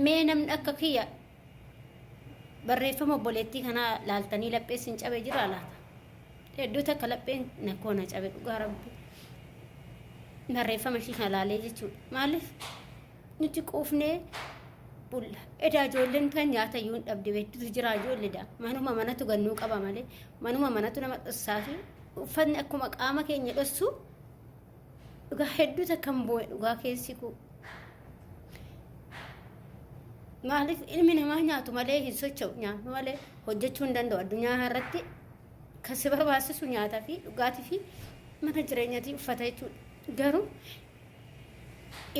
Mee namni akka kiyya barreeffama obboleettii kanaa laaltanii laphee sin cabe jira laata? Hedduu takka lapheen na koo na cabe dhugaa rabbi. Barreeffama ishii kana laalee jechuudha. Maaliif nuti quufnee bulla. Edaa ijoolleen kan nyaata iyyuu hin dhabde beektutu jira ijoollee daa. Manuma manatu gannuu qaba malee manuma manatu nama dhossaa fi uffatni akkuma qaama keenya dhossu Dhugaa hedduu takkan boo'e dhugaa keessi koo. Maaliif ilmi namaa nyaatu malee hin socho'u nyaatu malee hojjechuu hin danda'u addunyaa irratti kan si barbaachisu nyaataa fi dhugaatii fi mana jireenyatii uffata jechuudha. Garuu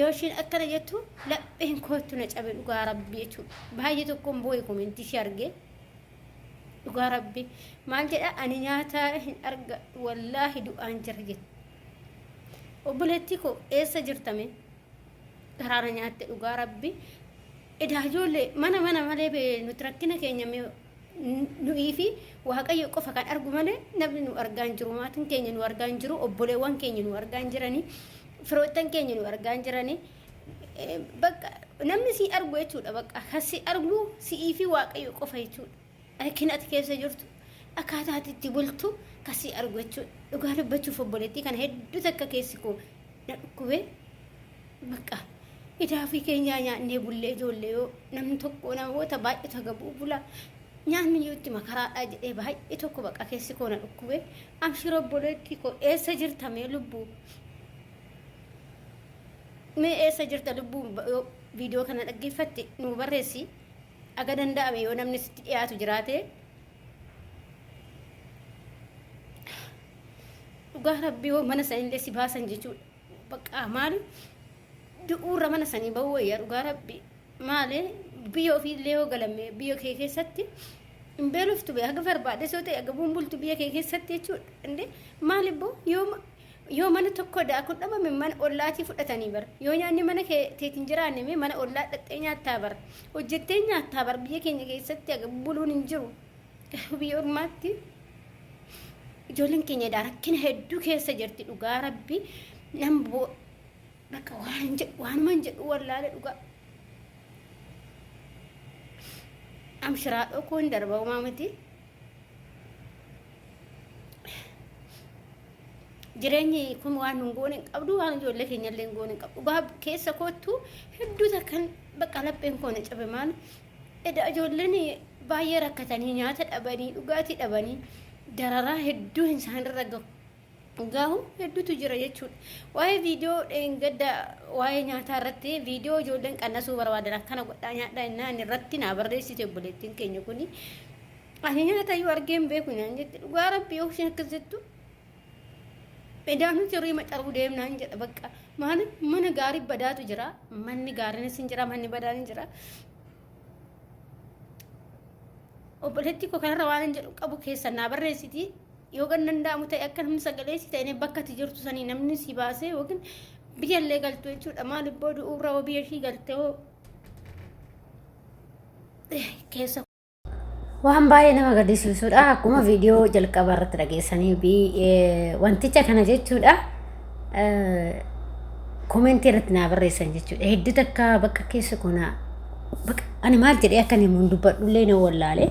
yoo ishiin akkana jettu lapheen kootu na cabe dhugaa rabbii jechuudha. Baay'ee tokkoon boo'e komentii ishee argee. dhugaa rabbi maal jedha ani nyaata hin arga wallaahi du'aan jira jette obboleettii koo eessa jirtame garaana nyaatte dhugaa rabbi edaa ijoollee mana mana malee bee nuti rakkina keenya mee nu'ii fi waaqayyo qofa kan argu malee namni nu argaa hin jiru maatiin keenya nu argaa hin jiru obboleewwan keenya nu argaa hin jirani firoottan keenya nu argaa hin jirani bakka namni si argu jechuudha bakka kan si argu si'ii fi waaqayyo qofa jechuudha rakkina ati keessa jirtu akkaataa ati itti bultu kan si argu jechuudha dhugaa dubbachuuf obboleettii kana hedduu takka keessi koo na dhukkubee bakka idaa fi keenyaa nyaannee bullee ijoollee yoo namni tokko namoota baay'ee tagabuu bula nyaanni iyyuu itti makaraadhaa jedhee baay'ee tokko bakka keessi koo na dhukkubee amshira obboleettii koo eessa jirtamee lubbuu Mee eessa jirta lubbuu yoo viidiyoo kana dhaggeeffatte nuu barreessi aga danda'ame yoo namni sitti dhiyaatu jiraate dhugaa rabbi yoo mana sanillee si baasan jechuudha baqqaa maali du'uurra mana sanii ba'uu wayyaa dhugaa rabbi maali biyya ofiillee yoo galamme biyya kee keessatti hin beeloftu bee haga barbaades yoo ta'e haga bumbultu biyya kee keessatti jechuudha inde maali boo yoo Yoo mana tokko daakuun dhabame mana ollaatii fudhatanii bar. Yoo nyaanni mana kee teetiin jiraanne mee mana ollaa dhaxxee nyaattaa bar. Hojjettee nyaattaa bar biyya keenya keessatti aga buluun hin jiru. Garuu biyya ormaatti ijoolleen keenya edaa rakkina hedduu keessa jirti dhugaa rabbi nan boo bakka waan hin jedhu waanuma hin jedhu wallaale dhugaa. Amshiraa dhokoo hin darba homaa miti. jireenyi kun waan nun goone hin qabdu waan ijoollee keenya illee hin goone hin qabdu dhugaa keessa koottu hedduu takkan bakka lapheen koo na cabe maal eda ijoolleen baay'ee rakkatanii nyaata dhabanii dhugaatii dhabanii dararaa hedduu hin isaanirra gahu gahu hedduutu jira jechuudha waa'ee viidiyoo dheengadda waa'ee nyaataa irratti viidiyoo ijoolleen qannasuu barbaadan akkana godhaa nyaadhaa innaan irratti naa barreessite obboleettiin keenya kuni Ani nyaata iyyuu argee hin beeku naan jette dhugaa rabbii yoo isheen akkas jettu edaanuu jirrii macaruu deemnaan jedha bakka maaliif mana gaarii badaatu jira manni gaariinis hin jira manni badaan hin jira obboleettii koo kanarra waan hin jedhu qabu keessa naa barreessiti yoo kan danda'amu ta'e akka namni sagalee si ta'e bakka ati jirtu sanii namni si baasee yookiin biyyallee galtu jechuudha maaliif booda uurraa biyya ishii galtee keessa Waan baay'ee nama gaddisiisudha. Akkuma viidiyoo jalqaba irratti dhageessanii fi wanticha kana jechuudha. Komentii irratti naa barreessan jechuudha. Hedduu takka bakka keessa kuna bakka ani maal jedhee akka inni mun dubbadhullee na wallaale.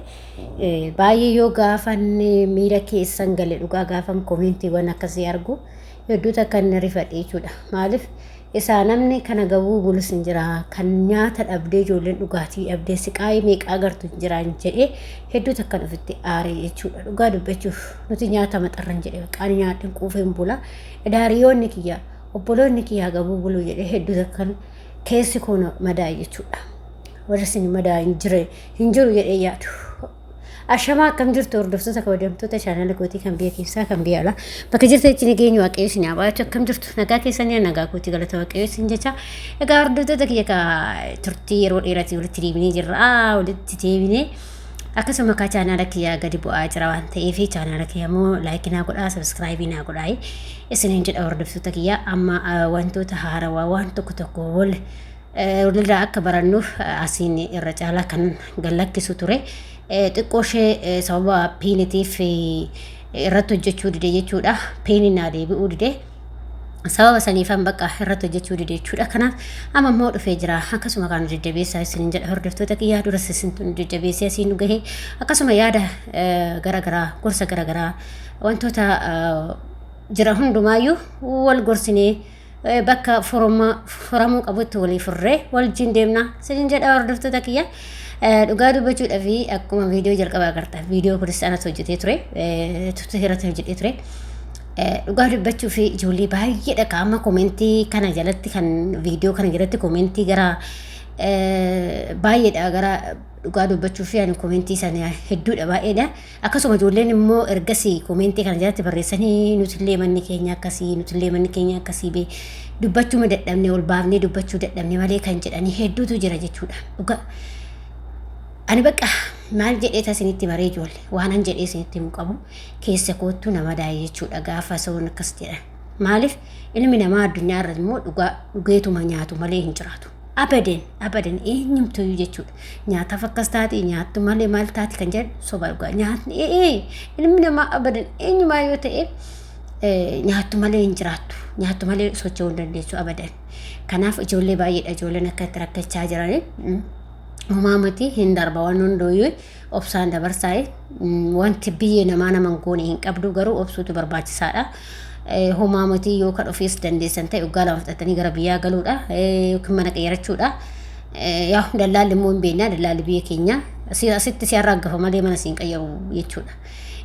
Baay'ee yoo gaafan miira keessan gale dhugaa gaafan komentiiwwan akkasii argu. hedduu takka inni rifadhe jechuudha. Maaliif isaa namni kana gabuu bulus hin jira kan nyaata dhabdee ijoolleen dhugaatii dhabdee siqaayii meeqaa gartu hin jiraan jedhee hedduu takkan ofitti aaree jechuudha. Dhugaa dubbachuuf nuti nyaata maxarran jedhee qaani nyaadhin quufeen bula. Idaariyoonni kiyya obboloonni kiyyaa gabuu buluu jedhee hedduu takkan keessi koo madaa'e jechuudha. Warri isin madaa'e hin jiru jedhee yaadu. Ashamaa akkam jirtu hordoftoota kabajamtoota chaanala kootii kan biyya keessaa kan biyya alaa bakka jirtanitti nageenyi waaqayyo isin haa baay'atu akkam jirtu nagaa keessanii nagaa kootii galata waaqayyo isin jecha egaa hordoftoota kiyya ka turtii yeroo dheeratii walitti deebinee jirra walitti deebinee akkasuma kaa chaanaala kiyyaa gadi bu'aa jira waan ta'eef chaanaala kiyya immoo laayikii naa godhaa sabiskiraayibii naa godhaa isiniin jedha hordoftoota kiyya amma wantoota haarawaa waan tokko tokko wal Walirraa akka barannuuf asiin irra caalaa kan gallakkisu ture. Xiqqoo ishee sababa piinitiif irratti hojjechuu dide jechuudha. Piini naa deebi'uu dide. Sababa saniifan bakka irratti hojjechuu dide jechuudha. Kanaaf amma immoo dhufee jira. Akkasuma kan deddeebi'eessaa isin jedha hordoftoota kiyyaa duras isin deddeebi'eessee asiin nu gahe. Akkasuma yaada garaagaraa gorsa garaagaraa wantoota jira hundumaayyuu wal gorsinee bakka furamuu qabutti walii furree wajjin deemna sinin jedha hordoftoota kiyya dhugaa dubbachuudha fi akkuma viidiyoo jalqabaa agarta viidiyoo kunis anatu hojjetee ture tutu irratti hojjetee ture dhugaa dubbachuu fi ijoollee baay'eedha qaama komentii kana jalatti kan viidiyoo kana jalatti komentii gara baay'eedha gara dhugaa dubbachuu fi ani komentii sana hedduudha baay'eedha. Akkasuma ijoolleen immoo ergasii koomeentii kana jalatti barreessanii nutillee manni keenya akkasii nutillee manni keenya akkasii bee dubbachuu ma dadhabne ol baafnee dubbachuu dadhabne malee kan jedhanii hedduutu jira jechuudha. Dhugaa ani bakka maal jedhee tasinitti maree ijoolle waanan jedhee isinitti himu qabu keessa koottu nama daa'e jechuudha gaafa soon akkas jedhan. Maaliif ilmi namaa addunyaa irra immoo dhugaa dhugeetuma nyaatu malee hin jiraatu. Abadan abadan eenyumtuyyuu jechuudha. Nyaataaf akkas taate nyaattu malee maal taate kan jedhan soba dhugaa. Nyaatni ee ilmi namaa abadan eenyumaa yoo ta'e nyaattu malee hin jiraattu. Nyaattu malee socho'uu hin dandeessu abadan. Kanaaf ijoollee baay'eedha ijoolleen akka itti rakkachaa jiranii. Umaamati hin darba waan hundooyyuu. obsaan dabarsaa wanti biyyee namaa naman goone hin qabdu garuu obsuutu barbaachisaadha. Homaa matii yoo kan ofiis dandeessan ta'e waggaa lama fudhatanii gara biyyaa galuudha yookiin mana qeerachuudha. Yaa dallaalli immoo hin beekna dallaalli biyya keenya asitti si arraaggafa malee mana siin qayyaru jechuudha.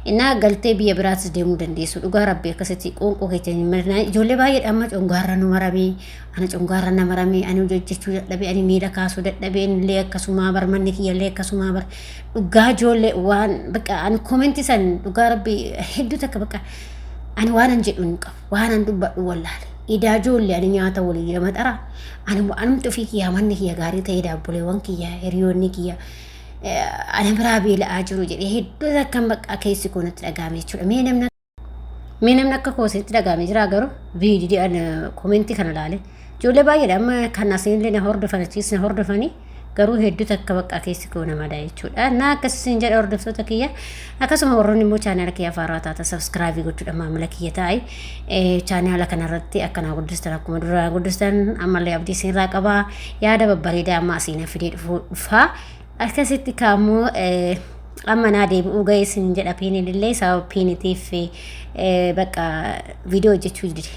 Innaa galtee biyya biraatis deemuu dandeessu dhugaa rabbi akkasitti qoonqoo keetiin hin mirnaa ijoollee baay'eedha amma congaarra nu maramee Ana congaarra na maramee ani hojjechuu dadhabee ani miila kaasuu dadhabeen illee akkasumaa bar manni kiyya illee akkasumaa bar dhugaa ijoollee waan baqa ani koomenti san dhugaa rabbi hedduu takka baqa ani waanan jedhu hin qabu waanan dubbadhu wallaale idaa ijoollee ani nyaata walii lama xara ani anumti ofii kiyyaa manni kiyya gaarii ta'ee daabboleewwan kiyya hiriyoonni kiyya ana biraa beela'aa jiru jedhee hedduu takkan baqa keessi koo natti dhaga'ame jechuudha mee namni Mee namni akka koo isinitti dhaga'ame jira garuu viidiyoo komentii kana ilaale. Ijoollee baay'eedha amma kan asiinillee na hordofan achiis na hordofanii garuu hedduu takka bakka keessi koo namadha jechuudha. Na akkas isin jedha hordoftoota kiyya akkasuma warroonni immoo chaanaala kiyya afaaraa taata sabskraabii gochuudha maamila kiyya taa'e chaanaala kanarratti akka na guddistan akkuma dura guddistan ammallee abdii isinirraa qabaa yaada babbareedaa amma asiin fidee dhufaa Akkasitti kaammoo amma naa deebi'uu ga'ee sin jedha piinillee sababa piinitiif bakka viidiyoo hojjechuu dide.